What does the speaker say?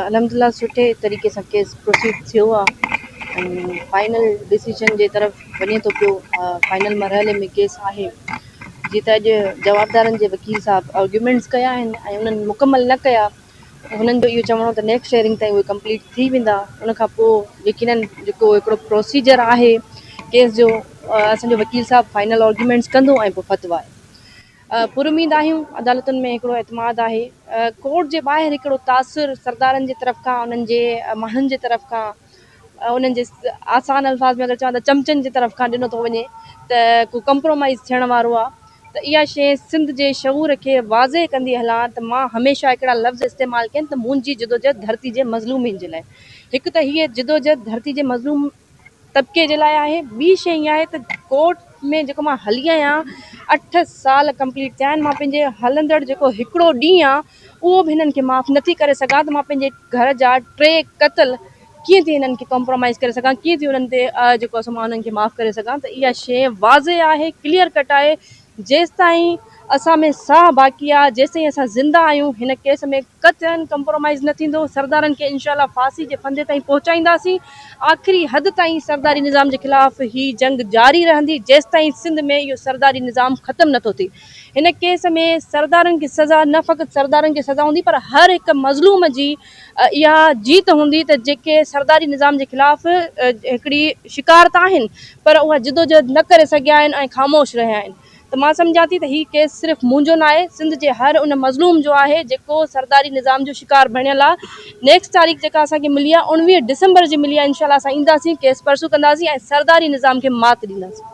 الحمدالله سٺي طريقي سان ڪيس پروسيڊ ٿيو آ ۽ فائنل ڊسيزن جي طرف وڃي ٿو پيو فائنل مرحلي ۾ ڪيس آهي جي ته اڄ جوابدارن جي وڪيل صاحب آرگيومينٽس ڪيا آهن ۽ انهن مڪمل نه ڪيا هنن جو اهو چوڻو ته نيڪسٽ هيئرنگ تائين اهي ڪمپليٽ ٿي ويندا ان کان پوء يقينن جيڪو هڪڙو پروسيجر آهي ڪيس جو اسان جو وڪيل صاحب فائنل آرگيومينٽس ڪندو ۽ پوء فتوا پر اميد آهيون، عدالتن ۾ هڪڙو اعتماد آهي، ڪورٽ جي ٻاهر هڪڙو تاثر سردارن جي طرف کان انهن جي ماڻهن جي طرف کان انهن جي آسان الفاظ ۾ اگر چوان ته چمچن جي طرف کان ڏنو ٿو وڃي ته ڪو ڪمپرومائيز ٿيڻ وارو آ ته اها شيء سنڌ جي شعور کي واضح ڪندي هلان ته مان هميشه هڪڙا لفظ استعمال ڪين ته منهنجي جدوجهد ڌرتي جي مظلومين جي لاء هڪ ته هيء جدوجهد ڌرتي جي مظلوم طبقي جي لاء آهي ٻي شيء اها آهي ته ڪورٽ ۾ جيڪو مان هلي آهيان اٺ سال ڪمپليٽ ٿيا آهن مان پنهنجي هلندڙ جيڪو هڪڙو ڏينهن آهي اهو به هنن کي معاف نٿي ڪري سگهان ته مان پنهنجي گهر جا ٽي قتل ڪيئن ٿي هنن کي ڪمپرومائز ڪري سگهان ڪيئن ٿي انهن تي جيڪو سو مان انهن کي معاف ڪري سگهان ته اها شيء واضح آهي ڪليئر ڪٽ آهي جيستائين اسان ۾ ساهه باقي آ، جيستائين اسان زنده آهيون، هن ڪيس ۾ قطعن ڪمپرومائيز نه ٿيندو، سردارن کي انشاء الله ڦاسي جي ڦندي تائين پهچائينداسين، آخري حد تائين سرداري نظام جي خلاف هي جنگ جاري رهندي، جيستائين سنڌ ۾ اهو سرداري نظام ختم نه ٿو ٿئي، هن ڪيس ۾ سردارن کي سزا نه فقط سردارن کي سزا هوندي پر هر هڪ مظلوم جي اها جيت هوندي ته جيڪي سرداري نظام جي خلاف هڪڙي شڪار ته آهن پر اها جدوجهد نه ڪري سگهيا آهن ۽ خاموش رهيا آهن ته مان سمجهان ٿي ته هي ڪيس صرف منهنجو ناهي سنڌ جي هر ان مظلوم جو آهي جيڪو سرداري نظام جو شڪار بڻيل آ نيڪسٽ تاريخ جيڪا اسان کي ملي آ اڻويهه ڊسمبر جي ملي آ انشاء الله اسان اينداسين ڪيس پرسو ڪنداسين ۽ سرداري نظام کي مات ڏينداسين.